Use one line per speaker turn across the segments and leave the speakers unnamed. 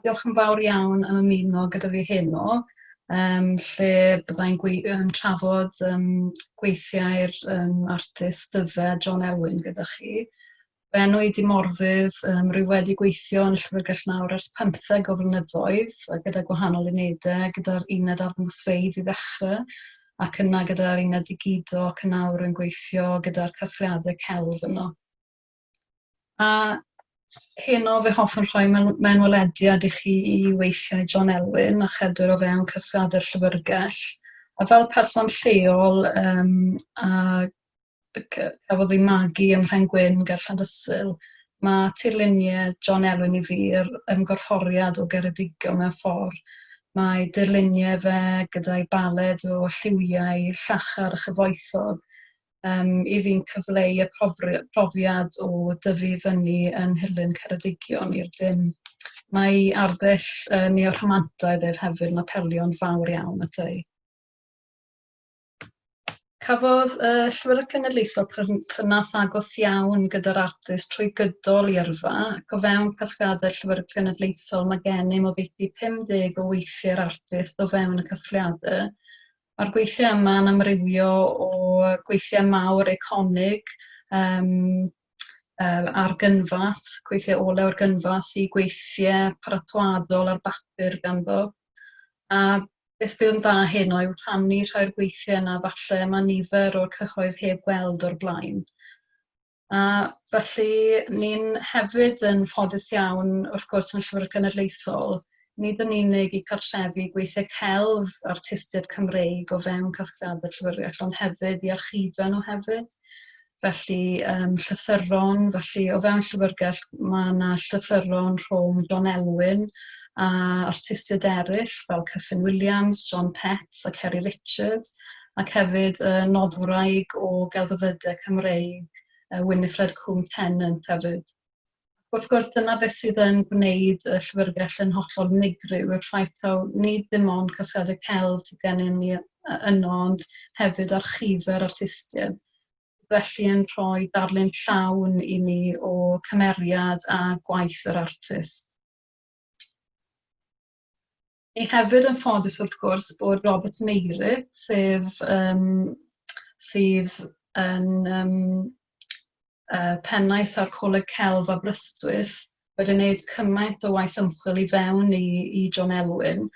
Diolch yn fawr iawn am ymuno gyda fi heno, um, lle byddai'n um, trafod um, gweithiau'r um, artist dyfe John Elwyn gyda chi. Bennu i dimorfydd, um, rwy wedi gweithio yn y llyfrgell nawr ers pymtheg o flynyddoedd, gyda gwahanol unedau, gyda'r uned arddangosfeydd i ddechrau, ac yna gyda'r uned digido ac yn awr yn gweithio gyda'r casgliadau celf yno. A heno fe hoffwn rhoi mewnwelediad i chi i weithiau John Elwyn a chedwyr o fewn casgliadau'r llyfrgell, a fel person lleol um, a y c- cafodd ei magu ym Mhen Gwyn ger Llandysul, mae tirluniau John Elwyn i Fear yn gorfforiad o Geredigion mewn ffordd. Mae dirluniau fe gyda'i baled o lliwiau llachar a chyfoethog um, i fi'n cyfleu y profiad o dyfu fyny yn nhirlun Ceredigion i'r dim. Mae arddull uh, neorhamantaidd ef hefyd yn apelio'n fawr iawn at ei. Cafodd y Llywodraeth Genedlaethol perthynas agos iawn gyda'r artist trwy gydol ei yrfa, ac o fewn casgliadau'r Llywodraeth Genedlaethol mae gennym oddeutu 50 o weithiau'r artist o fewn y casgliadau. Mae'r gweithiau yma yn amrywio o gweithiau mawr eiconig um, uh, ar gynfas, gweithiau olew ar gynfas, i gweithiau paratoadol ar bapur ganddo. A Beth bydd yn dda heno yw rhannu rhai o'r gweithiau yna falle mae nifer o'r cyhoedd heb weld o'r blaen. A felly, ni'n hefyd yn ffodus iawn, wrth gwrs, yn y Llyfrgell Genedlaethol, nid yn unig i cartrefu gweithiau celf artistiaid Cymreig o fewn casgliadau'r Llyfrgell, ond hefyd i archifau nhw hefyd. Felly yym llythyron, felly o fewn Llyfrgell ma' 'na llythyron rhwng John Elwyn a artistiaid eryll fel Kyffin Williams, John Pett a Ceri Richard ac hefyd yy noddwraig o gelfyddyde Cymreig yy Winifred Cwm Tennant hefyd. Ac wrth gwrs, dyna beth sydd yn gwneud y Llyfrgell yn hollol unigryw, yw'r ffaith taw nid dim ond casgliadau celf sydd gennym ni yno, ond hefyd archifau'r artistiaid, sydd felly yn rhoi darlun llawn i ni o cymeriad a gwaith yr artist. Ni hefyd yn ffodus wrth gwrs bod Robert Meirig, sef um, sydd yn um, uh, pennaeth ar Coleg Celf a Brystwyth, wedi gwneud cymaint o waith ymchwil i fewn i, i John Elwyn,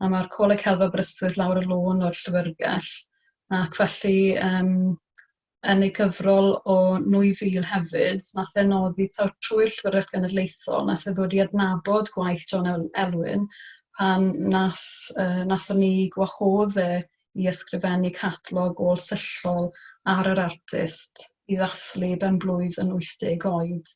a mae'r Coleg Celf a Brystwyth lawr y lôn o'r llyfrgell, ac felly um, yn ei gyfrol o 2000 hefyd, wnaeth e nodi taw trwy'r Llyfrgell Genedlaethol wnaeth e ddod i adnabod gwaith John Elwyn pan wnaeth, uh, wnaethon ni gwahodd e i ysgrifennu catalog ôl-syllol ar yr artist i ddathlu ben-blwydd yn 80 oed.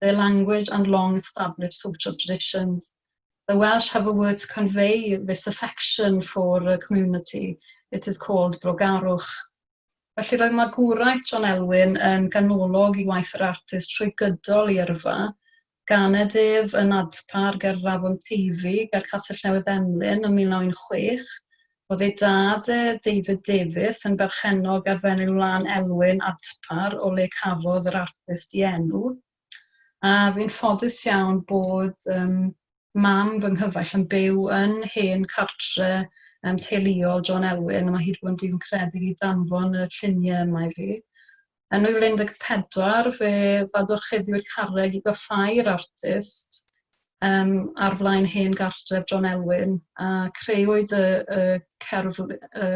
their language and long established social traditions. The Welsh have a word to convey this affection for a community. It is called brogarwch. Felly roedd magwraeth John Elwyn yn ganolog i waith yr artist trwy gydol i yrfa, gan y dyf yn adpar ger Rafon Teifi, ger Castell Newydd Emlyn yn 1916, Roedd ei dad, David Davies, yn berchennog ar Fenyw Lan Elwyn, Adpar, o le cafodd yr artist ei enw. A fi'n ffodus iawn bod um, mam fy nghyfaill yn byw yn hen cartre um, teuluol John Elwyn. Mae hi wedi bod yn dyn credu i danfon y lluniau yma i fi. Yn 2014 fe ddadorchuddiodd carreg i goffáu'r artist yym ar flaen hen gartref John Elwyn a crëwyd y y cerfl- y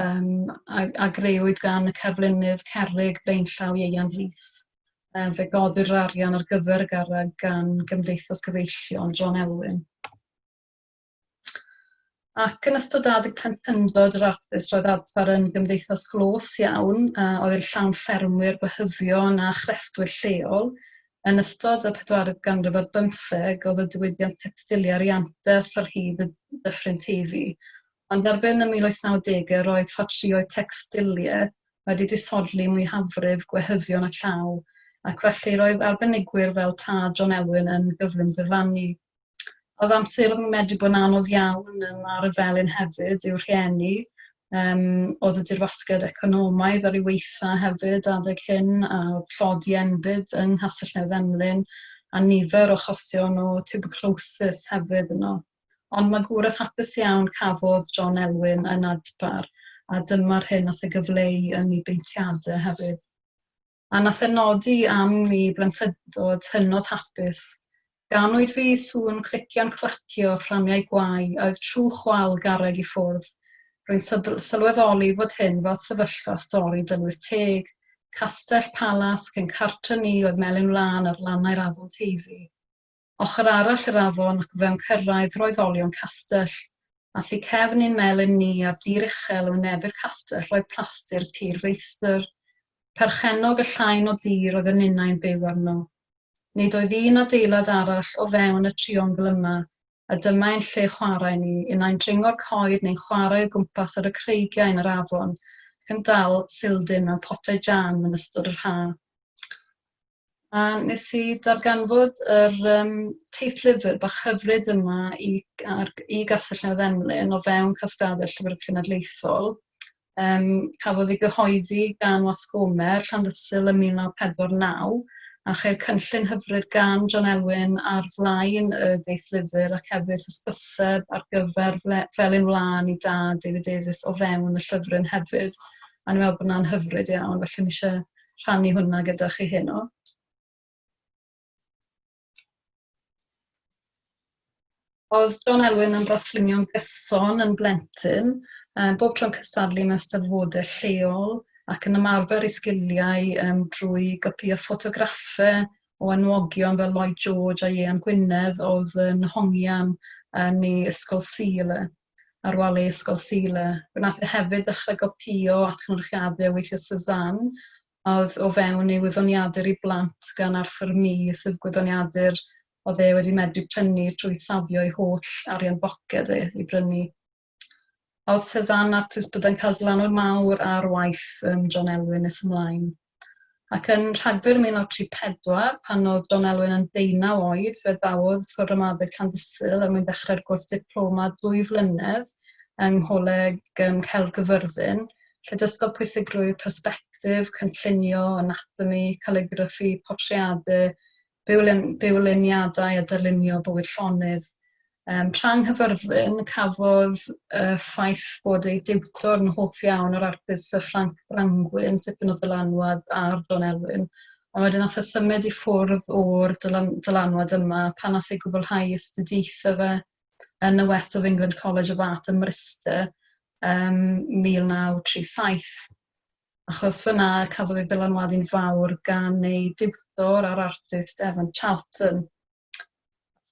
yym a a grëwyd gan y cerflunydd cerrig blaenllaw Ieuan Rees. Yym fe godir yr arian ar gyfer y garreg gan Gymdeithas Gyfeillion John Elwyn. Ac yn ystod adeg plentyndod yr artist roedd adfer yn gymdeithas glos iawn a oedd yn llawn ffermwyr, gwehyddion a chrefftwyr lleol. Yn ystod y pedwaredd ganrif ar bymtheg oedd y diwydiant tecstiliau ar ei anterth ar hyd y dyffryn Teifi, ond erbyn y 1890au roedd ffatrïoedd tecstiliau wedi disodli mwyafrif gwehyddion y llaw ac felly roedd arbenigwyr fel Tad John Elwyn yn gyflym diflannu. oedd amser oedd yn medru bod yn anodd iawn um, ar y felin hefyd yw'r rhieni, um, oedd y dirwasgiad economaidd ar ei weitha hefyd adeg hyn a tlodi enbyd yng Nghastell Newydd Emlyn a nifer o chosion o tuberculosis hefyd yno. Ond mae gwrdd hapus iawn cafodd John Elwyn yn adpar a dyma'r hyn oedd y gyfleu yn ei beintiadau hefyd. a na phenodi am ni blentyndod hynod hapus. Ganwyd fi i sŵn crician clacio fframiau gwau a oedd trwch wal garreg i ffwrdd. Rwy'n sylweddoli fod hyn fel sefyllfa stori Dylwyth Teg, castell, palas, cyn cartre ni oedd melyn wlân ar lannau'r afon Teifi. ochr arall yr afon ac o fewn cyrraedd roedd olion castell, a thu cefn ein melin ni ar dir uchel yn wynebu'r castell roedd plaster tir feistr, perchennog y llain o dir oedd y ninnau'n byw arno. Nid oedd un adeilad arall o fewn y triongl yma, a dyma ein lle chwarae ni, unai'n dringo'r coed neu'n chwarae o gwmpas ar y creigiau yn yr afon ac yn dal sildin mewn potiau jam yn ystod yr haf. A wnes i darganfod yr yym teitlyfr bach hyfryd yma i g- ar g- i Gastell Newydd-Emlyn o fewn casgliadau Llyfr Cenedlaethol. Yym cafodd ei gyhoeddi gan Watts Gomer, Llandysul ym 1949 a cheir cynllun hyfryd gan John Elwyn ar flaen y deitlyfr ac hefyd hysbyseb ar gyfer fle- Felin Wlân i Dad David Davies o fewn y llyfryn hefyd a o'n i'n meddwl bod hwnna'n hyfryd iawn felly o'n i isie rhannu hwnna gyda chi heno. Oedd John Elwyn yn braslunio'n gyson yn blentyn, um, bob tro'n cystadlu mewn steddfodau lleol ac yn ymarfer ei sgiliau um, drwy gopïo ffotograffau o enwogion fel Lloyd George a Iean Gwynedd oedd yn hongian yn ei ysgol Sul. ar wal ei ysgol Sealer. Fe wnaeth e hefyd ddechrau gopïo atgynhyrchiadau o weithiau Cézanne a oedd o fewn ei wyddoniadur i blant gan Arthur Mee, sydd gwyddoniadur oedd e wedi medru prynu trwy safio ei holl arian boced e i brynu. A oedd Cézanne artist byddai'n cael glanwr mawr ar waith um, John Elwyn nes ymlaen. Ac yn Rhagfyr 1934, pan oedd John Elwyn yn ddeunaw oed, fe ddawodd Ysgol Ramadeg Llandysul er mwyn dechrau'r gwrs diploma dwy flynedd yng Ngholeg ym Mhellgyfyrddin, lle dysgodd pwysigrwydd persbectif, cynllunio, anatomi, caliggraffi, portreadu, bywlen, bywleniadau a dylunio bywyd llonydd. Um, tra yng Nghyfyrddin, cafodd y uh, ffaith bod ei diwtor yn hoff iawn o'r artist Sir Ffranc Brangwyn, tipyn o dylanwad ar Don Elwyn, ond wedyn nath y e symud i ffwrdd o'r dylan, dylanwad yma pan nath ei gwblhau astudiaethau fe yn y West of England College of Art ym Mryste um, 1937. achos fan'na cafodd ei ddylanwadu'n fawr gan ei diwtor a'r artist Evan Charlton.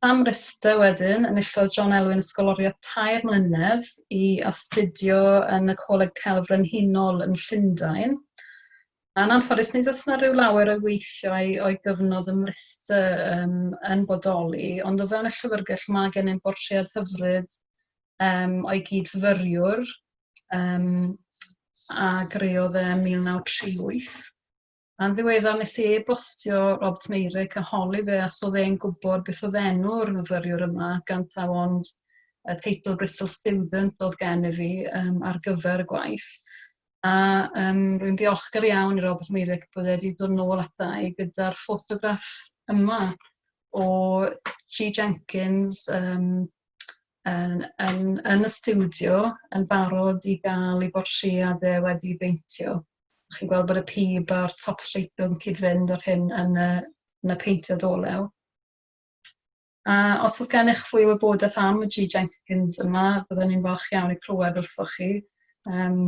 Am rester wedyn, enillodd John Elwyn ysgoloriaeth tair mlynedd i astudio yn y Coleg Celf Frenhinol yn Llundain. Yn anffodus, nid oes yna rhyw lawer o'i weithiau o'i gyfnod ym Mryste um, yn bodoli, ond o fewn y llyfrgell mae gennym bortread hyfryd um, o'i gyd-fyfyriwr, um, a greodd e 1938. Yn ddiweddar nes i e-bostio Robert Meyrick a holi fe os oedd e'n gwybod beth oedd enw'r myfyriwr yma, gan taw ond y teitl Bristol Student oedd gen i fi um, ar gyfer y gwaith. A um, rwy'n ddiolchgar iawn i Robert Meyrick bod wedi dod yn ôl ata i gyda'r ffotograff yma o G. Jenkins, um, yn yn yn y stiwdio yn barod i gael ei bortreadau wedi ei beintio. Chi'n gweld bod y pib a'r top streipiog yn cyd-fynd â'r hyn yn y, yn y peintiad olew. A os oes gennych fwy o wybodaeth am y G Jenkins yma, byddwn ni'n falch iawn i clywed wrthoch chi. Um,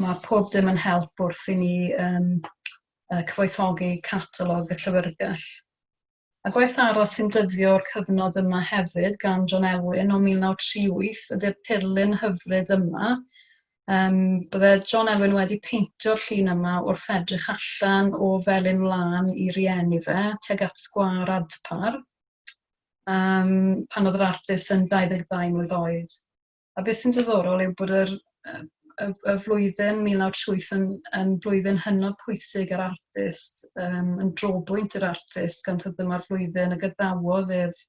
mae pob dim yn help wrth i ni um, cyfoethogi catalog y llyfrgell. A gwaith arall sy'n dyddio o'r cyfnod yma hefyd gan John Elwyn o 1938 ydy'r tirlun hyfryd yma. Um, bydde John Elwyn wedi peintio'r llun yma wrth edrych allan o felin wlân i rieni fe, teg at sgwar Adpar, um, pan oedd yr artist yn 22 mlwydd oed. A beth sy'n diddorol yw bod yr, y, y flwyddyn 1907 yn, yn flwyddyn hynod pwysig yr artist, um, yn drobwynt yr artist, gan tad dyma'r flwyddyn y gadawodd ef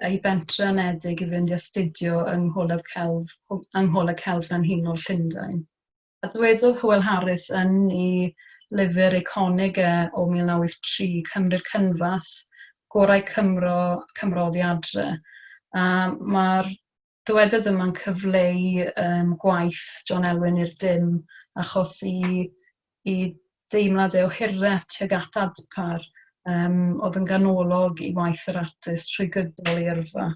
ei bentre anedig i fynd i astudio yng Ngholeg Celf, yng Ngholeg Celf Frenhinol Llundain. A dwedodd Hywel Harris yn ei lyfr eiconig e o 1983, Cymru'r Cynfas, gorau Cymro, Cymro oddi adre. A mae'r dywediad yma'n cyfleu um, gwaith John Elwyn i'r dim, achos i, i deimlad e o hireth tuag at adpar, um, oedd yn ganolog i waith yr artist trwy gydol ei yrfa.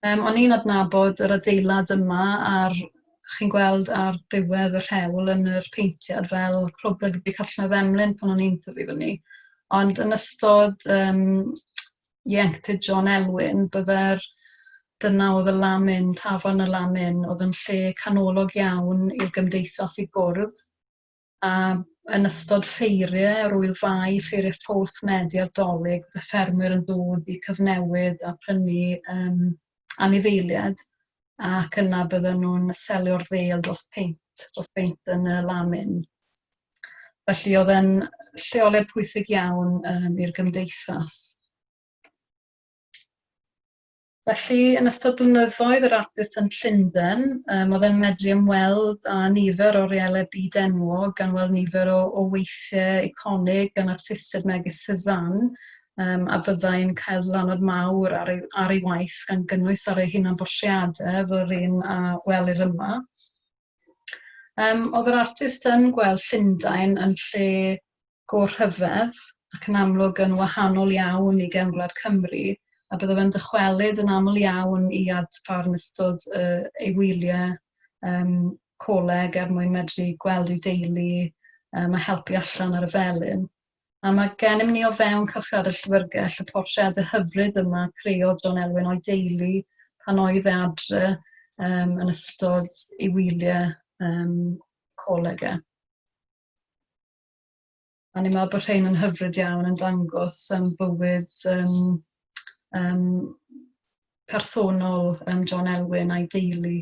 Yym, o'n i'n adnabod yr adeilad yma a'r chi'n gweld ar ddiwedd y rhewl yn yr paentiad fel Clwb Rygbi Catalan Emlyn pan o'n i'n tyfu fyny. Ond yn ystod yym ieuenctid John Elwyn bydde'r... dyna oedd y lamin, Tafarn y Lamin oedd yn lle canolog iawn i'r gymdeithas i gwrdd. a yn ystod ffeiriau o'r Ŵyl Fai, ffeiriau ffowls Medi a'r Dolig, bydd y ffermwyr yn dod i cyfnewid a prynu um, anifeiliaid, ac yna bydden nhw'n selio'r ddel dros peint, dros beint yn y lamin. Felly oedd e'n lleoliad pwysig iawn um, i'r gymdeithas. Felly, yn ystod blynyddoedd yr artist yn Llundain, um, oedd e'n medru ymweld â nifer o reelau byd enwog, gan weld nifer o, o weithiau iconig gan artistiaid megis Cézanne, um, a fyddai'n cael dylanwad mawr ar ei, ar ei waith gan gynnwys ar ei hunan bortreadau fel yr un a welir yma. Um, oedd yr artist yn gweld Llundain yn lle go rhyfedd ac yn amlwg yn wahanol iawn i Gefn Gwlad Cymru a bydda fe'n dychwelyd yn aml iawn i Adpar yn ystod y, ei wyliau um, coleg er mwyn medru gweld ei deulu um, a helpu allan ar y felin. A mae gennym ni o fewn casgad y llyfrgell y portreadau hyfryd yma creodd John Elwyn o'i deulu pan oedd e adre um, yn ystod ei wyliau um, coleg e. A ni'n meddwl bod rhain yn hyfryd iawn yn dangos um, bywyd um, um, personol um, John Elwyn a'i deulu.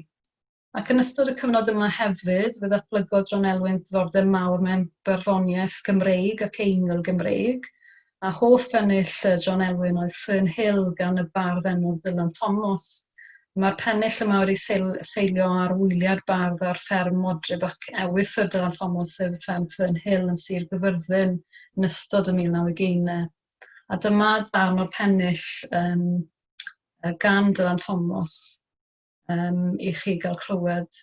Ac yn ystod y cyfnod yma hefyd, fe ddatblygodd John Elwyn ddiddordeb mawr mewn barddoniaeth Gymreig ac eingl Gymreig, a hoff bennill Sir John Elwyn oedd Fern Hill gan y bardd enwog Ddylan Thomas. Mae'r pennill yma wedi seilio ar wyliad bardd ar fferm Modryb ac ewythr Dylan Thomas sef fferm Fern Hill yn Sir Gyfyrddin yn ystod y mil naw ugeinau. A dyma darn o'r pennill um, gan Dylan Thomas um, i chi gael clywed.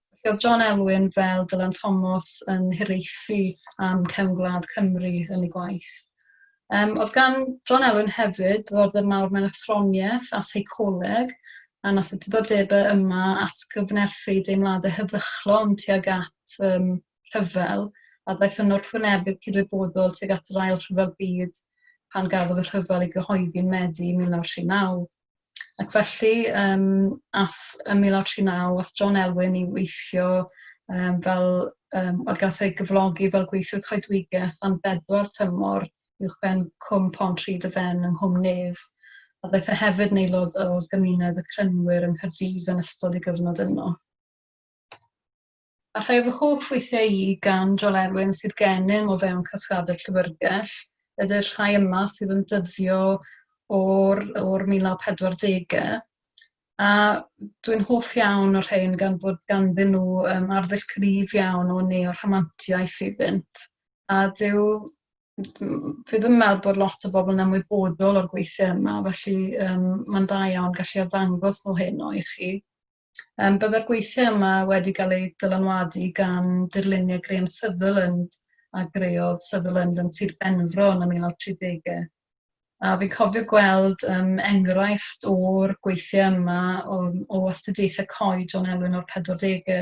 Felly oedd John Elwyn fel Dylan Thomas yn hiraethu am cefn gwlad Cymru yn ei gwaith. Um, oedd gan John Elwyn hefyd ddiddordeb mawr mewn athroniaeth a seicoleg, a nath y diddordebau yma at gyfnerthu deimladau heddychlon tuag at um, rhyfel, a daeth yn wrthwynebydd cydwybodol tuag at yr ail rhyfel byd pan gafodd y rhyfel ei gyhoeddi yn Medi 1939. Ac felly, yym, aeth ym 1939, aeth John Elwyn i weithio um, fel, um, wel, gath ei gyflogi fel gweithiwr coedwigaeth am bedwar tymor uwch ben Cwm Pont Rhyd y Fen yng Nghwm Nedd, a ddaeth e hefyd yn aelod o gymuned y Crynwyr yng Nghaerdydd yn ystod ei gyfnod yno. A rhai o fy hoff weithiau i gan Joel Erwin sydd gennym o fewn Casgadau Llyfrgell ydy'r rhai yma sydd yn dyddio o'r, o'r 1940au. A dwi'n hoff iawn o'r rhain gan bod ganddyn nhw um, arddull cryf iawn o neo-rhamantiaeth iddynt. A dyw fi ddim yn meddwl bod lot o bobl yn ymwybodol o'r gweithiau yma, felly um, mae'n da iawn gallu arddangos nhw heno i chi. Yym, byddai'r gweithiau yma wedi cael eu dylanwadu gan dirluniau Graham Sutherland a greodd Sutherland yn Sir Benfro yn y 1930au. A fi'n cofio gweld um, enghraifft o'r gweithiau yma o, o astudiaethau coed John Elwyn o'r 40au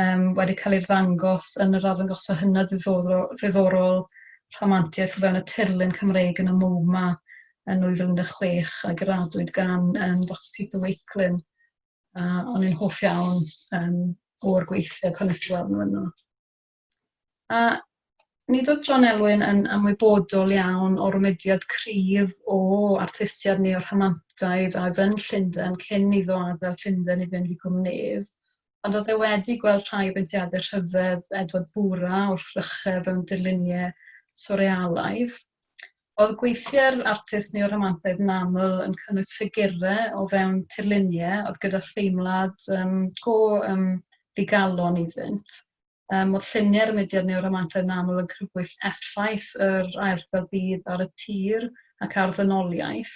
um, wedi cael ei ddangos yn yr arddangosfa hynna ddiddorol, ddiddorol rhamantiaeth o fewn y tirlun Cymreig yn y MoMA yn 2016 a gyradwyd gan um, Dr Peter Wakelin. A o'n i'n hoff iawn um, o'r gweithiau pan nes i weld nhw yno. A nid oedd John Elwyn yn ymwybodol iawn o'r mediad cryf o artistiad neu o'r rhamantaidd a oedd yn Llundain cyn iddo adael Llundain i fynd i gwmnedd. Ond oedd e wedi gweld rhai o beintiadau rhyfedd Edward Bura wrth frychau fewn dirluniau swrealaidd. Oedd gweithiau'r artist neo-romantaidd yn aml yn cynnwys ffigurau o fewn tirluniau oedd gyda theimlad um, go um, ddigalon iddynt. Ym modd lluniau'r mudiad niwromantaidd yn aml yn crybwyll effaith yr Ail Rhyfel Byd ar y tir ac ar ddynoliaeth,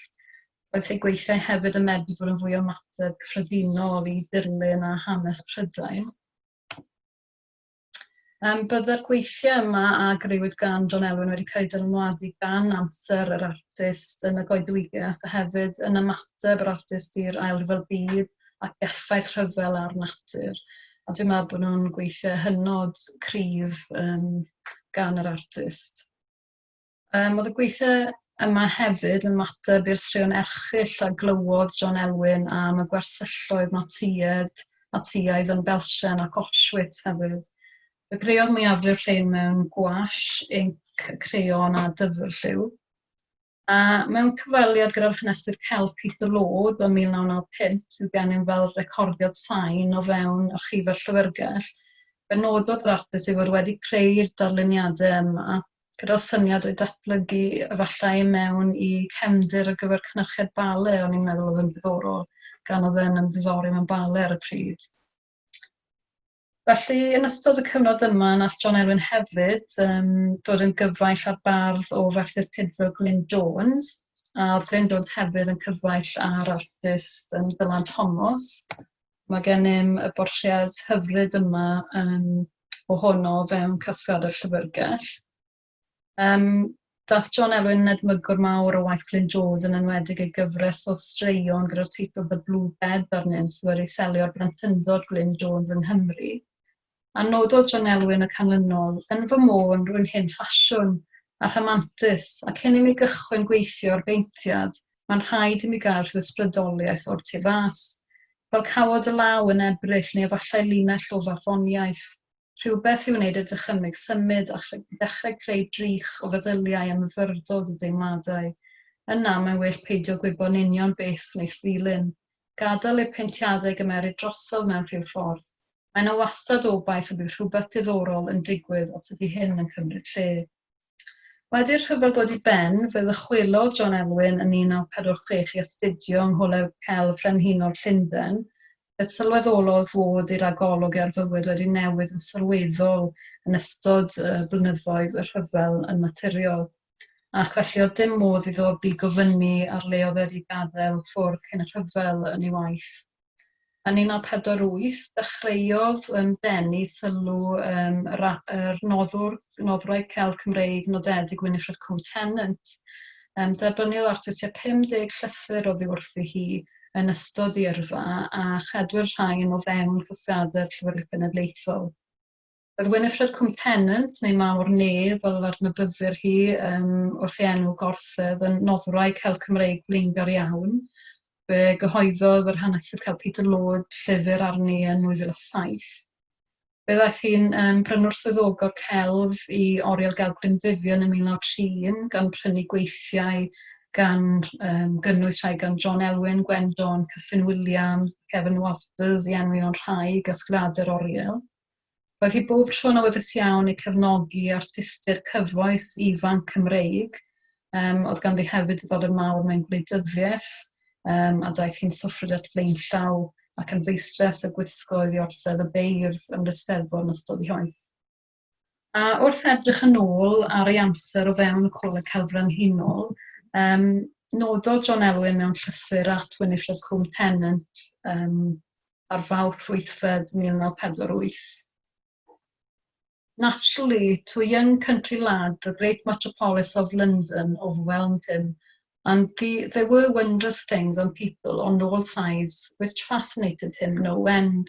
roedd ei gweithiau hefyd yn medru bod yn fwy o ymateb cyffredinol i dirlun a hanes Prydain. Um, byddai'r gweithiau yma a greuwyd gan John Elwyn wedi cael eu dylanwadu gan amser yr artist yn y goedwigaeth a hefyd yn ymateb yr artist i'r Ail Rhyfel Byd ac effaith rhyfel ar natur, a dwi'n meddwl bod nhw'n gweithiau hynod cryf um, gan yr artist. Um, oedd y gweithiau yma hefyd yn mater i'r straeon erchill a glywodd John Elwyn am y gwersylloedd Natsïed, Natsïaidd yn Belsen ac Auschwitz hefyd. Y creodd mwyafrif rhain mewn gwash, inc, creon a dyfrlliw. A mewn cyfweliad gyda'r hanesydd celf Peter Lord o 1995, sydd gennym fel recordiad sain o fewn Archifau'r Llyfrgell, fe nododd yr artist ei fod wedi creu'r darluniadau yma gyda'r syniad o'u datblygu efallai mewn i cefndir ar gyfer cynhyrchiad bale, o'n i'n meddwl oedd yn ddiddorol, gan oedd e'n ymddiddori mewn bale ar y pryd. Felly, yn ystod y cyfnod yma, nath John Elwyn hefyd um, dod yn gyfaill â'r bardd o Ferthyr Tudful Glyn Jones, a oedd Glyn Jones hefyd yn cyfaill â'r artist um, Dylan Thomas. Mae gennym y bortread hyfryd yma um, ohono fewn casgliad y llyfrgell. Um, dath John Elwyn yn edmygwr mawr o waith Glyn Jones yn enwedig ei gyfres o straeon gyda'r teitl The Blue Bed arnynt sydd wedi selio'r brentyndod Glyn Jones yng Nghymru. A nododd John Elwyn y canlynol, yn fy môn, rwy'n hen ffasiwn a rhamantus, ac cyn i mi gychwyn gweithio ar beintiad, mae'n rhaid i mi gael rhyw ysbrydoliaeth o'r tu fas. Fel cawod y law yn Ebrill neu efallai linell o farddoniaeth. rhywbeth i wneud y dychymyg symud a dechrau creu drych o feddyliau a myfyrdod y deimladau. Yna, mae'n well peidio gwybod yn union beth wneith ddilyn. Gadael i'r paentiadau gymeryd drosodd mewn rhyw ffordd. Mae 'na wastad obaith y bydd rhywbeth diddorol yn digwydd os ydi hyn yn cymryd lle. Wedi'r rhyfel dod i ben, fe ddychwelodd John Elwyn yn 1946 i astudio yng Ngholeg Celf Frenhinol Llundain, lle sylweddolodd fod ei ragolwg e ar fywyd wedi newid yn sylweddol yn ystod blynyddoedd y rhyfel yn naturiol, ac felly oedd dim modd iddo ddigofynnu ar le oedd wedi gadael ffwrdd cyn y rhyfel yn ei waith. Yn 1948, dechreuodd yym denu sylw yym y ra- yr noddwr, noddwraig celf Cymreig nodedig Winifred Coe-Tennant. Yym derbyniodd artist tua 50 llythyr oddiwrthi hi yn ystod ei yrfa a chedwir rhain o fewn casgliadau'r Llyfrgell Genedlaethol. Roedd Winifred Cwm Tennant, neu Mawr Ne, fel yr adnabyddir hi um, wrth ei enw gorsedd, yn noddwraig hel Cymreig blaengar iawn. Fe gyhoeddodd yr hanesydd cael Peter Lord llyfr arni yn 2007. Fe ddaeth hi'n um, brynwr swyddogol celf i Oriel Gelf Glynfifion yn 1931 gan prynu gweithiau gan um, gynnwys rhai gan John Elwyn, Gwen John, Cyffin Williams, Kevin Walters i enwi o'n rhai gasgliadau'r Oriel. Roedd hi bob tro'n awyddus iawn i cefnogi artistiaid cyfoes ifanc Cymreig, um, oedd ganddi hefyd diddordeb mawr mewn gwleidyddiaeth, um, a daeth hi'n soffrydell flaenllaw ac yn feistres a gwisgo i ddi orsedd y beirdd ym Mrysteddfod yn ystod ei hoeth. A wrth edrych yn ôl ar ei amser o fewn y Coleg Celf Frenhinol, yym, nododd John Elwyn mewn llythyr at Winifred Combe Tennant yym, ar Fawrth wythfed 1948, Naturally, to a young country lad the great metropolis of London overwhelmed him, and the, there were wondrous things and people on all sides which fascinated him no end.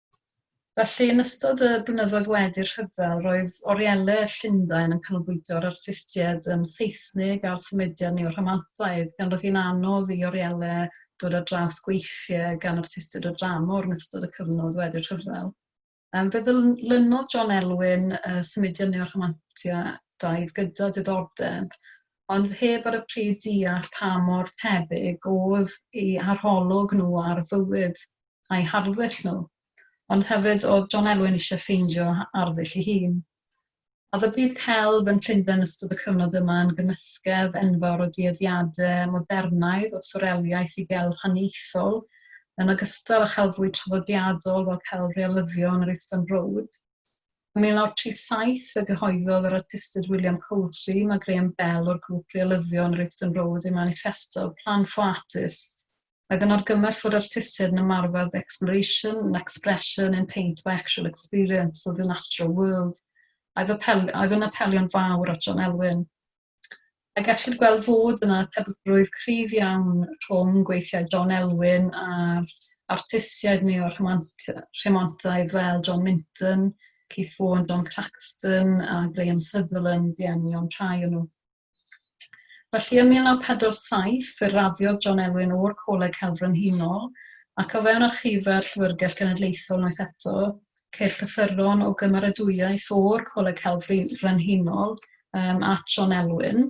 Felly, yn ystod y blynyddoedd wedi'r rhyfel, roedd orieledd Llundain yn canolbwyntio ar artistiaid yym Seisnig a'r symudiad neo-Rhamantaidd, gan roedd hi'n anodd i orieledd dod ar draws gweithiau gan artistiaid o dramor yn ystod y cyfnod wedi'r rhyfel. Yym, fe ddylunodd John Elwyn y symudiad neo-Rhamantaidd gyda diddordeb, ond heb ar y pryd deall pa mor tebyg oedd ei arholwg nhw ar fywyd a'u harddull nhw, ond hefyd oedd John Elwyn eisiau ffeindio arddull ei hun. A oedd y byd celf yn Llundain yn ystod y cyfnod yma yn gymysgedd enfawr o dueddiadau modernaidd o swreliaeth i gelf haniaethol, yn ogystal â chelf fwy traddodiadol fel celf realyddion yr Euston Road? Ym 1937 fe gyhoeddodd yr artistydd William Cowdray mae Graham Bell o'r grŵp realyddion yr Euston Road ei maniffesto Plan for Artists, Oedd yn argymell fod artistiaid yn ymarfer 'the exploration and expression in paint by actual experience of the natural world'. Oedd apel, oedd yn apelio'n fawr at John Elwyn. A gellid gweld fod yna tebygrwydd cryf iawn rhwng gweithiau John Elwyn a'r artistiaid neo rhemontaidd fel John Minton, Keith Vaughan, John Craxton a Graham Sutherland i ennion rhai o'n nhw. Felly ym 1947 fe raddiodd John Elwyn o'r Coleg Celf Frenhinol, ac o fewn archifau'r Llyfrgell Genedlaethol unwaith eto, ceir llythyron o gymeradwyaeth o'r Coleg Celf Frenhinol um, at John Elwyn.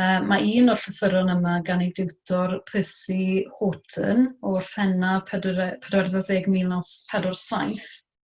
Um, mae un o'r llythyron yma gan ei diwtor Percy Horton o'r Fenaf 14 1947,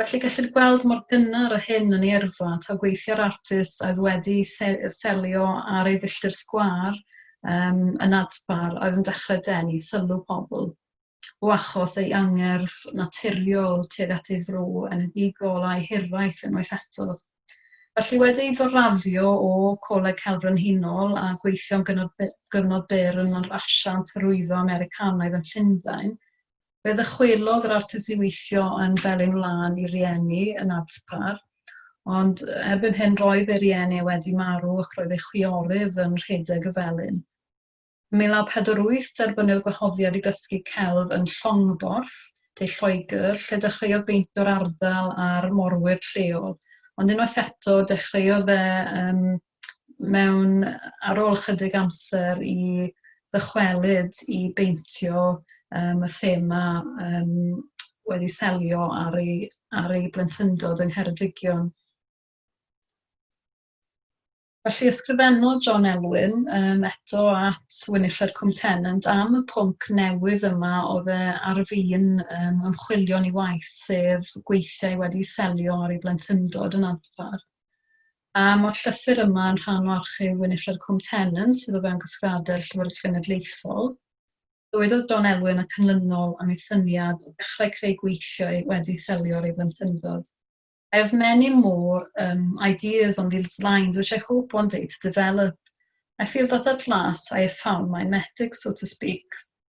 Felly gellir gweld mor gynnar a hyn yn ei yrfa, taw gweithiau'r artist oedd wedi selio ar ei filltir sgwâr um, yn adpar oedd yn dechrau denu sylw pobl o achos ei angerdd naturiol tuag at ei fro enedigol a'i hiraeth unwaith eto. Felly wedi ei ddoraddio o Coleg Celf Brenhinol a gweithio'n gyfnod byr yn yr asiant hyrwyddo Americanaidd yn Llundain, Fe ddychwelodd yr artist i weithio yn Felin Wlân i rieni yn Adpar, ond erbyn hyn roedd ei rieni e wedi marw ac roedd ei chwiorydd yn rhedeg y felin. Ym 1948 derbyniodd gwahoddiad i ddysgu celf yn Llongborth, De Lloegr, lle dechreuodd beintio'r ardal a'r morwyr lleol, ond unwaith eto dechreuodd e ym mewn... ar ôl ychydig amser i ddychwelyd i beintio yym y thema yym wedi selio ar ei ar ei blentyndod yng Ngheredigion. Felly ysgrifennodd John Elwyn yym eto at Winifred Cwm Tennant am y pwnc newydd yma oedd e ar fin yym ymchwilio'n ei waith sef gweithiau wedi selio ar ei blentyndod yn Adpar. A mae'r llythyr yma yn rhan o archif Winifred Cwm Tennant sydd o fewn casgliadau'r Llyfrgell Genedlaethol. Dywedodd John Elwyn y canlynol am ei syniad o ddechrau creu gweithiau wedi selio'r ei blentyndod. I have many more um, ideas on these lines which I hope one day to develop. I feel that at last I have found my metic, so to speak,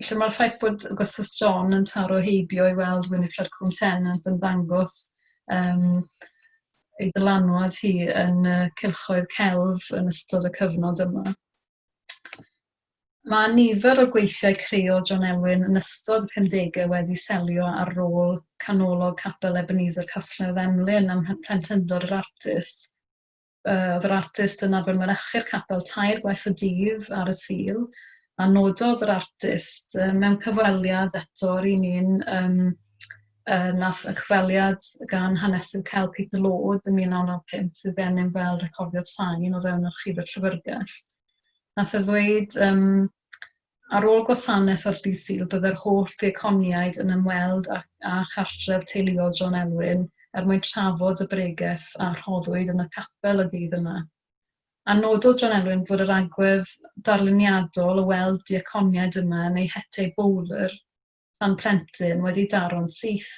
Felly mae'r ffaith bod Augustus John yn taro heibio i weld Winifred Cwm Tennant yn ddangos um, ei dylanwad hi yn uh, cylchoedd celf yn ystod y cyfnod yma. Mae nifer o gweithiau creol John Elwyn yn ystod y 50au wedi selio ar rôl canolog capel Ebenezer Castledd Emlyn am mhlentyndod yr artist. Yy, oedd yr artist yn arfer mynychu'r capel tair gwaith y dydd ar y Sul, a nododd yr artist yy mewn cyfweliad eto yr un un yym yy nath y cyfweliad gan hanesydd Cel Peter Lord yn 1995 sydd gennym fel recordiad sain o fewn Archifau'r Llyfrgell. Nath e ddweud yym Ar ôl gwasanaeth o'r Dydd Sul byddai'r holl ddiaconiaid yn ymweld â â chartref teuluol John Elwyn er mwyn trafod y bregeth a rhoddwyd yn y capel y dydd yna. A nododd John Elwyn fod yr agwedd darluniadol o weld diaconiaid yma yn eu hete i bowlr, pan plentyn wedi daro'n syth,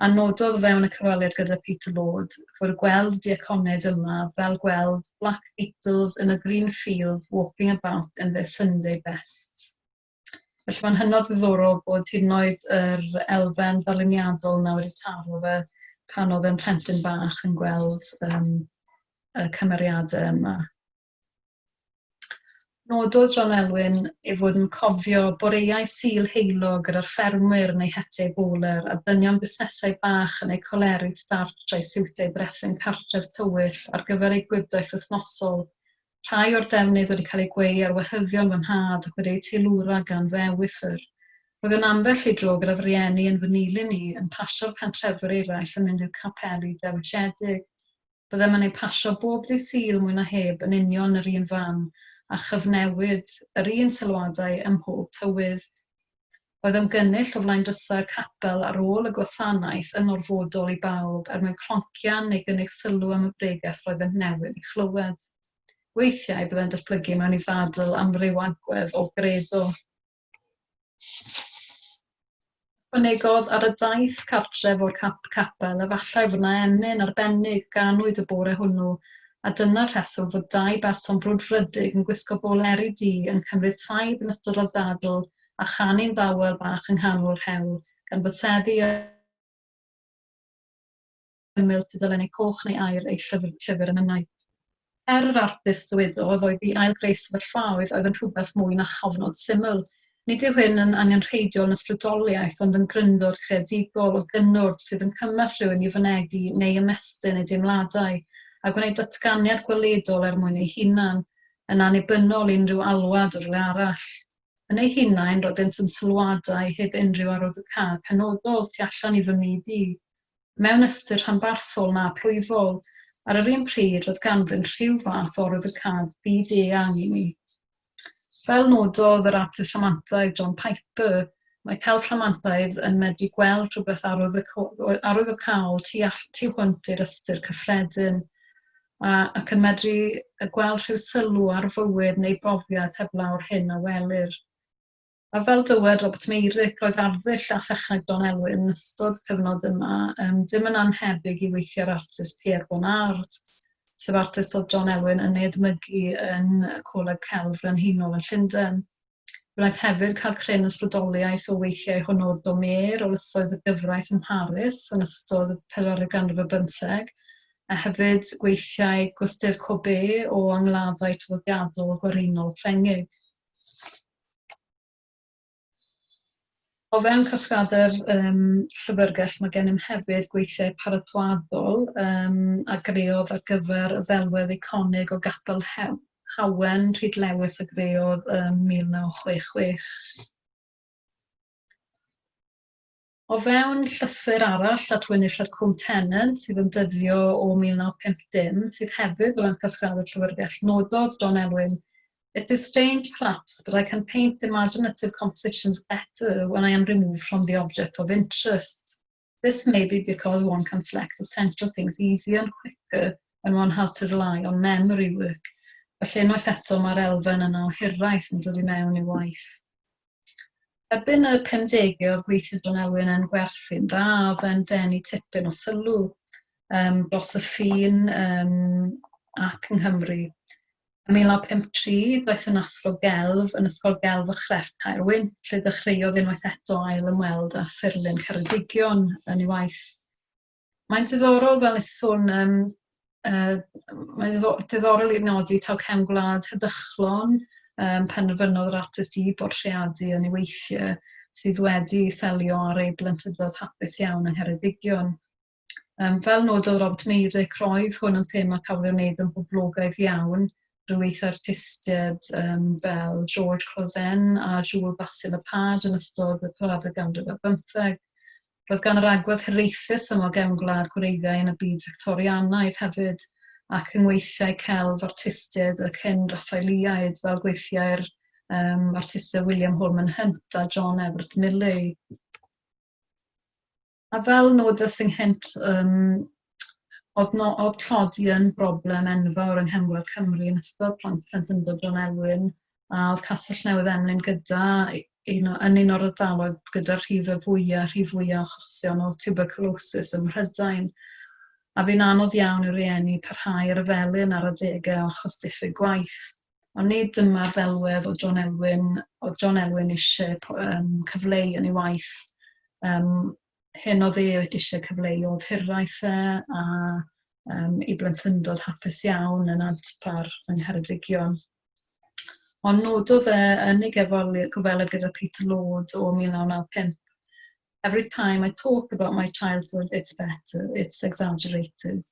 a nododd o fewn y cyfweliad gyda Peter Lord fod gweld diaconed yma fel gweld Black Beetles in a green field walking about in their Sunday bests. Felly mae'n hynod ddiddorol bod hyd yn oed yr elfen ddarluniadol yna wedi taro fe pan oedd yn plentyn bach yn gweld um, y cymeriadau yma. Nododd John Elwyn ei fod yn cofio boreau Sul heulog gyda'r ffermwyr yn eu hetiau bowler a dynion busnesau bach yn eu coleri startsh a'u siwtiau brethyn cartref tywyll ar gyfer eu gwibdaith wythnosol. Rhai o'r defnydd wedi cael eu gweu ar wehyddion fy nhad ac wedi eu teilwra gan fy ewythr. Roedd yn ambell i dro gyda fy rhieni yn fy nilyn i yn pasio'r pentrefwyr eraill yn mynd i'r capeli dewisiedig. Byddem yn eu pasio bob dydd Sul mwy na heb yn union yr un fam, a chyfnewid yr un sylwadau ym mhob tywydd. Oedd ymgynnull o flaen drysau capel ar ôl y gwasanaeth yn orfodol i bawb er mwyn cloncian neu gynnig sylw am y bregeth roeddent newydd ei chlywed? Weithiau byddai'n datblygu mewn i ddadl amryw agwedd o gredo. Ychwanegodd, Ar y daith cartref o'r capel, efallai fod yna emyn arbennig ganwyd y bore hwnnw, a dyna'r rheswm fod dau berson brwdfrydig yn gwisgo boleri du yn cymryd taib yn ystod y dadl a chanu'n ddawel bach yng nghanol yr hewl, gan fod seddi y ymyl tudalennau coch neu aur ei llyfr yn yno. Er yr artist ddywedodd oedd i ail-greu sefyllfaoedd oedd yn rhywbeth mwy na chofnod syml, nid yw hyn yn angenrheidiol yn ysbrydoliaeth ond yn gryndod creadigol o gynnwrf sydd yn cymell rhywun i fynegi neu ymestyn ei deimladau a gwneud datganiad gweledol er mwyn ei hunan, yn annibynnol i unrhyw alwad o rywle arall. Yn eu hunain, roeddent yn sylwadau heb unrhyw arwyddocâd penodol tu allan i fy myd i. mewn ystyr rhanbarthol na plwyfol, ar yr un pryd roedd ganddynt rhyw fath o ryddhcad byd-eang i mi. Fel nododd yr artist rhamantaidd John Piper, mae celf rhamantaidd yn medru gweld rhywbeth arwyddocaol tu, all, tu hwnt i'r ystyr cyffredin, a, ac yn medru gweld rhyw sylw ar fywyd neu brofiad heblaw'r hyn a welir. A fel dywed Robert Meyrick, roedd arddull a thechneg Don Elwyn yn ystod y cyfnod yma, um, dim yn anhebyg i weithiau'r artist Pierre Bonnard, sef artist oedd John Elwyn yn ei edmygu yn Coleg Celf Frenhinol yn Llundain. Wnaeth hefyd cael cryn ysbrydoliaeth o weithiau Honor Domer o lysoedd y gyfraith ym Mharis yn ystod y 40 ganrif ar bymtheg, a hefyd gweithiau Gustave Courbet o angladdau traddodiadol gwerinol Ffrengig. O fewn casgliadau'r um, llyfrgell mae gennym hefyd gweithiau paratoadol um, a greodd ar gyfer y ddelwedd eiconig o Gapel Hew, Hawen, Rhyd Lewis a greodd ym 1966. O fewn llythyr arall at Winifred Combe Tennant sydd yn dyddio o 1950, sydd hefyd fel arfer sgraddu'r Llyfrgell, nododd John Elwyn, It is strange, perhaps, but I can paint imaginative compositions better when I am removed from the object of interest. This may be because one can select essential things easier and quicker when one has to rely on memory work. Felly unwaith eto mae'r elfen yna o hiraeth yn dod i mewn i waith. Erbyn y pumdegau oedd gweithio John Elwyn yn gwerthu'n dda, oedd e'n denu tipyn o sylw um, dros y ffin um, ac yng Nghymru. Ym 1953, daeth yn athro gelf yn Ysgol Gelf y Chrefft Caerwyn, lle dechreuodd unwaith eto ail ymweld â thirlun Ceredigion yn ei waith. Mae'n diddorol fel nes sôn, um, uh, mae'n diddorol i'r nodi taw cefn gwlad heddychlon um, penderfynodd yr artist i bortreadu yn ei weithiau sydd wedi selio ar ei blentyndod hapus iawn yng Ngheredigion. Um, fel nododd Robert Meyrick, roedd hwn yn thema cafodd ei wneud yn boblogaidd iawn drwy eich artistiaid um, fel George Closen a Jewel Basil y Pad yn ystod y parad y ganrif ar bymtheg. Roedd gan yr agwedd hiraethus syml gefn gwlad gwreiddiau yn y byd Fictorianaidd hefyd, ac yng ngweithiau celf artistiaid y cyn Raffaeliaid, fel gweithiau'r um, artistiaid William Holman Hunt a John Everett Millais. A fel nodes ynghynt um, oedd, no, oedd tlodi yn broblem enfawr yng Nghemwel Cymru yn ystod plant plentyndod John Elwyn, a oedd Castell Newydd Emlyn gyda un o, yn un o'r ardaloedd gyda'r rhif y fwyaf, rhif fwyaf o chosion o tuberculosis ym Mhrydain. A fi'n anodd iawn i'r rhieni parhau ar y felin ar adegau o achos diffyg gwaith. Ond nid dyma'r ddelwedd o John Elwyn, oedd John Elwyn eisiau um, cyfleu yn ei waith. Um, hyn oedd e eisiau cyfleu oedd hiraeth e a um, i blentyndod hapus iawn yn adpar yng Ngheredigion. Ond nododd e yn ei gyfweliad gyda Peter Lord o 1995, Every time I talk about my childhood, it's better, it's exaggerated.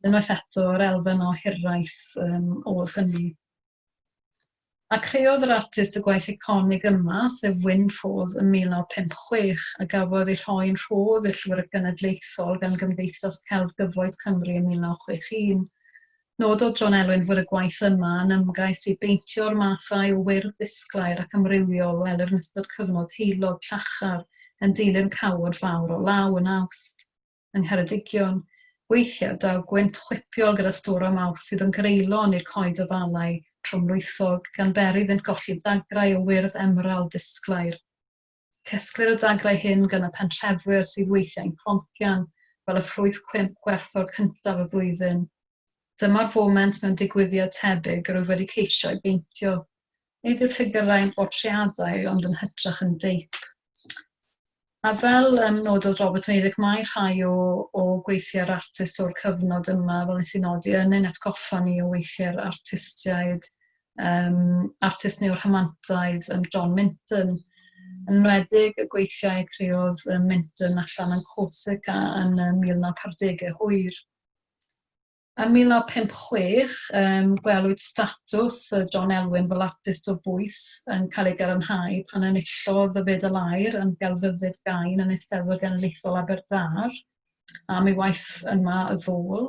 unwaith eto yr elfen o hiraeth um, oedd hynny. A creodd yr artist y gwaith iconig yma, sef Win Falls yn 1956, a gafodd ei rhoi'n rhodd i'r Llyfrgell Genedlaethol gan Gymdeithas Celf Gyfoes Cymru yn 1961. Nododd John Elwyn fod y gwaith yma yn ymgais i beintio'r mathau o wyrdd disglair ac amrywiol welir yn ystod cyfnod heulog llachar yn dilyn cawod fawr o law yn awst. yng Ngheredigion, weithiau daw gwynt chwipiol gyda stwr o maws sydd yn greulon i'r coed afalau tromlwythog, gan beri iddynt golli dagrau o wyrdd emerald disglair. Cesglir y dagrau hyn gan y pentrefwyr sydd weithiau'n plonkian fel y ffrwyth cwymp gwerthfawr cyntaf y flwyddyn. Dyma'r foment mewn digwyddiad tebyg yr wyf wedi ceisio ei beintio. Nid yw'r ffigyrau yn bortreadau ond yn hytrach yn deip. A fel um, nododd Robert Meirick, mae rhai o, o gweithiau'r artist o'r cyfnod yma, fel nes i nodi, yn ein atgoffa ni o weithiau'r artistiaid, um, artist neu o'r hymantaidd, um, John Minton. Yn enwedig y gweithiau creodd um, Minton allan yn Corsica yn um, 1940 hwyr. Yn 1956, um, gwelwyd statws uh, John Elwyn fel artist o bwys yn cael ei gadarnhau pan enillodd y Fedal Aur yn gelfyddyd gain yn Eisteddfod Genedlaethol Aberdâr am ei waith yma y ddôl.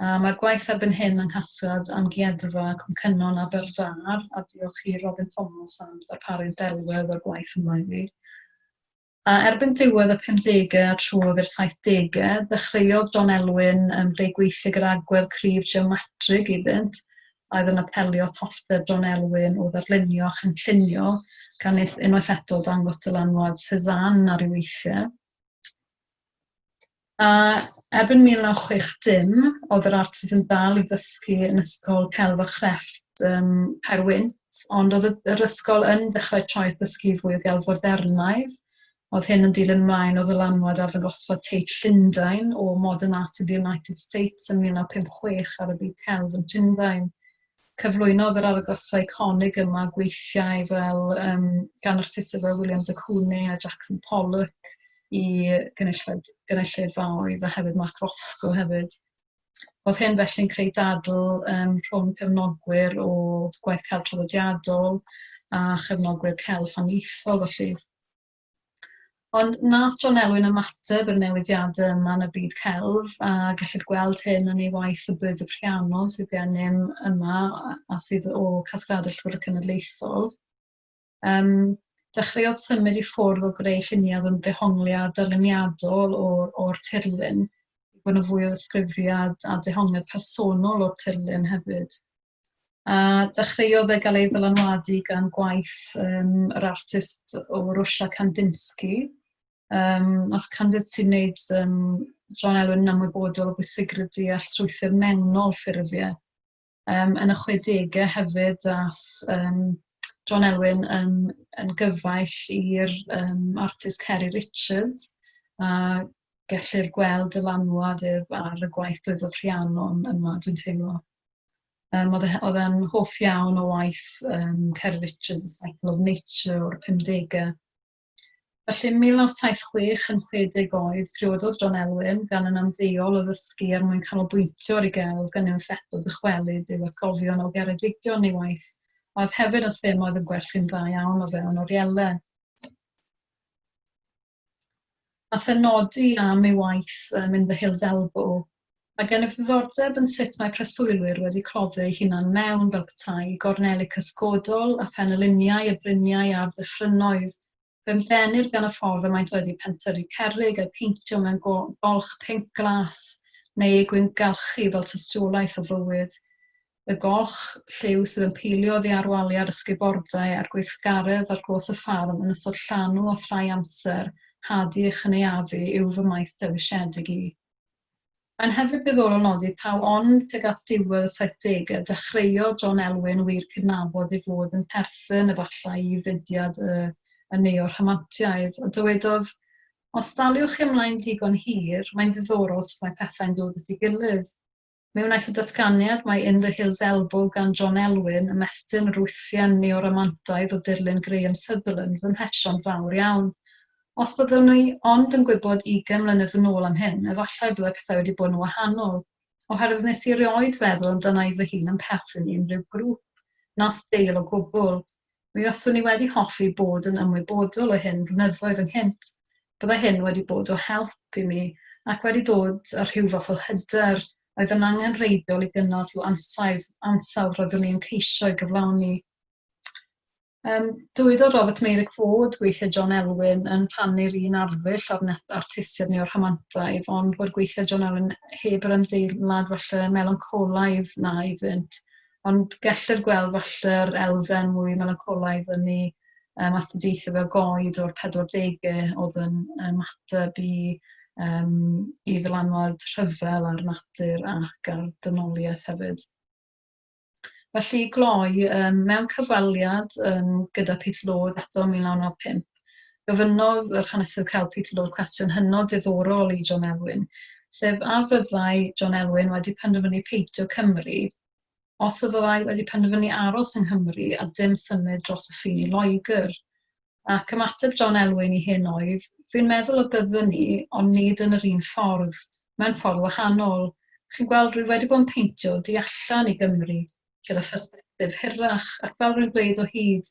Uh, Mae'r gwaith erbyn hyn yng Nghasgad Amgueddfa Cwmcynnon Aberdâr a diolch i Robin Thomas am ddarparu'r delwedd o'r gwaith yma i fi. A erbyn diwedd y pumdegau a trwodd i'r saithdegau, dechreuodd John Elwyn ym Mhre gweithio gyda agwedd cryf geomatrig iddynt a oedd yn apelio toffter John Elwyn o ddarlunio a chynllunio, gan unwaith eto dangos dylanwad Cézanne ar ei weithiau. A erbyn 1960, oedd yr artist yn dal i ddysgu yn Ysgol Celf a Chrefft ym Mhaerwynt, ond oedd y yr ysgol yn dechrau traeth ddysgu fwy o gelf fodernaidd, oedd hyn yn dilyn ymlaen o ddylanwad arddangosfa Tate Llundain o Modern Art in the United States yn 1956 ar y byd celf yn Llundain. cyflwynodd yr argraffau eiconig yma gweithiau fel um, gan artistiaid fel William de Kune a Jackson Pollock i gynulleidfaoedd a hefyd Mark Rothko hefyd. Oedd hyn felly'n creu dadl um, rhwng cefnogwyr o gwaith celf traddodiadol a chefnogwyr celf haniaethol felly. Ond wnaeth John Elwyn ymateb i'r newidiadau yma yn y byd celf, a gellid gweld hyn yn ei waith Y Byd y Piano sydd gennym yma a sydd o casgliadau Llyfr y Cenedlaethol. Um, dechreuodd symud i ffwrdd o greu lluniau oedd yn ddehongliad darluniadol o'r, or tirlun, i fod yn fwy o ddisgrifiad a dehongliad personol o'r tirlun hefyd. A dechreuodd e gael ei ddylanwadu gan gwaith um, yr artist o Rwsia Kandinsky. Um, nath Kandinsky wneud um, John Elwyn yn ymwybodol o bwysigrwydd deall trwythyr mewnol ffurfiau. Um, yn y 60au hefyd, ath um, John Elwyn yn, yn gyfaill i'r um, artist Kerry Richards, a gellir gweld dylanwad ef ar y gwaith blwyddol Rhiannon yma, dwi'n teimlo. Um, oedd, e, oedd e'n hoff iawn o waith um, Cer Richards, y Cycle of Nature o'r 50au. Felly, 1976 yn 60 oed, priododd John Elwyn gan yn amddeol o ddysgu er mwyn canolbwyntio ar ei gelf gan ei ffeto dychwelyd i'w atgofion o geredigion ei waith, a oedd hefyd yn thema oedd yn gwerthu'n dda iawn o fewn orielau. a phenodi am ei waith ym In the Hills Elbow, mae gennyf ddiddordeb yn sut mae preswylwyr wedi cloddio eu hunain mewn, fel petai, gorneli cysgodol a phenyluniau y bryniau a'r dyffrynnoedd, fy mhlenir gan y ffordd y maent wedi pentyrru cerrig a'u peintio mewn golch pinc glas, neu eu gwyngalchu fel tystiolaeth o fywyd. y goch, lliw sydd yn peilio oddi ar waliau'r ysgubordai a'r gweithgaredd ar glos y ffarm yn ystod llanw a thrau amser hadu a chynaeafu yw fy maes dewisedig i. Mae'n hefyd ddiddorol nodi taw ond tuag at ddiwedd y saithdegau y dechreuodd John Elwyn wir cydnabod ei fod yn perthyn efallai i fudiad y y neo-rhamantiaid, a dywedodd, Os daliwch chi ymlaen digon hir, mae'n ddiddorol sut mae pethau'n dod at ei gilydd. Mi wnaeth y datganiad mae In the Hills Elbow gan John Elwyn ymestyn yr wythiau neo-romantaidd o dirlun Graham Sutherland fy mhesion fawr iawn. Os byddwn i ond yn gwybod ugain mlynedd yn ôl am hyn, efallai byddai pethau wedi bod yn wahanol, oherwydd nes i erioed feddwl amdana i fy hun yn perthyn i unrhyw grŵp, na steil o gwbl. Mi faswn i wedi hoffi bod yn ymwybodol o hyn flynyddoedd ynghynt. Byddai hyn wedi bod o help i mi ac wedi dod â rhyw fath o hyder oedd yn angenrheidiol i gynnal rhyw ansawdd, ansawdd roeddwn i'n ceisio ei gyflawni. Um, dywedodd Robert Meyrick fod gweithiau John Elwyn yn rhannu'r un arddull ar net artistiaid neu o'r rhamantaidd, ond bod gweithiau John Elwyn heb yr ymdeimlad falle melancolaidd na iddynt. Ond gellir gweld falle'r elfen mwy melancolaidd yn ei um, astudiaethau fel goed o'r 40au oedd yn ymateb i, um, i ddylanwad rhyfel ar natur ac ar dynoliaeth hefyd. Felly gloi um, mewn cyfwaliad um, gyda Pith Lod eto 1995. Gofynnodd yr Hanesydd Cael Peterloo cwestiwn hynod ddiddorol i John Elwyn, sef a fyddai John Elwyn wedi penderfynu peintio Cymru os y fyddai wedi penderfynu aros yng Nghymru a dim symud dros y ffin i Loegr. Ac ymateb John Elwyn i hyn oedd, Fi'n meddwl y byddwn ni, ond nid yn yr un ffordd, mewn ffordd wahanol. Chi'n gweld, rwy wedi bod yn peintio di allan i Gymru gyda phersbectif hirach, ac fel rwy'n gweud o hyd,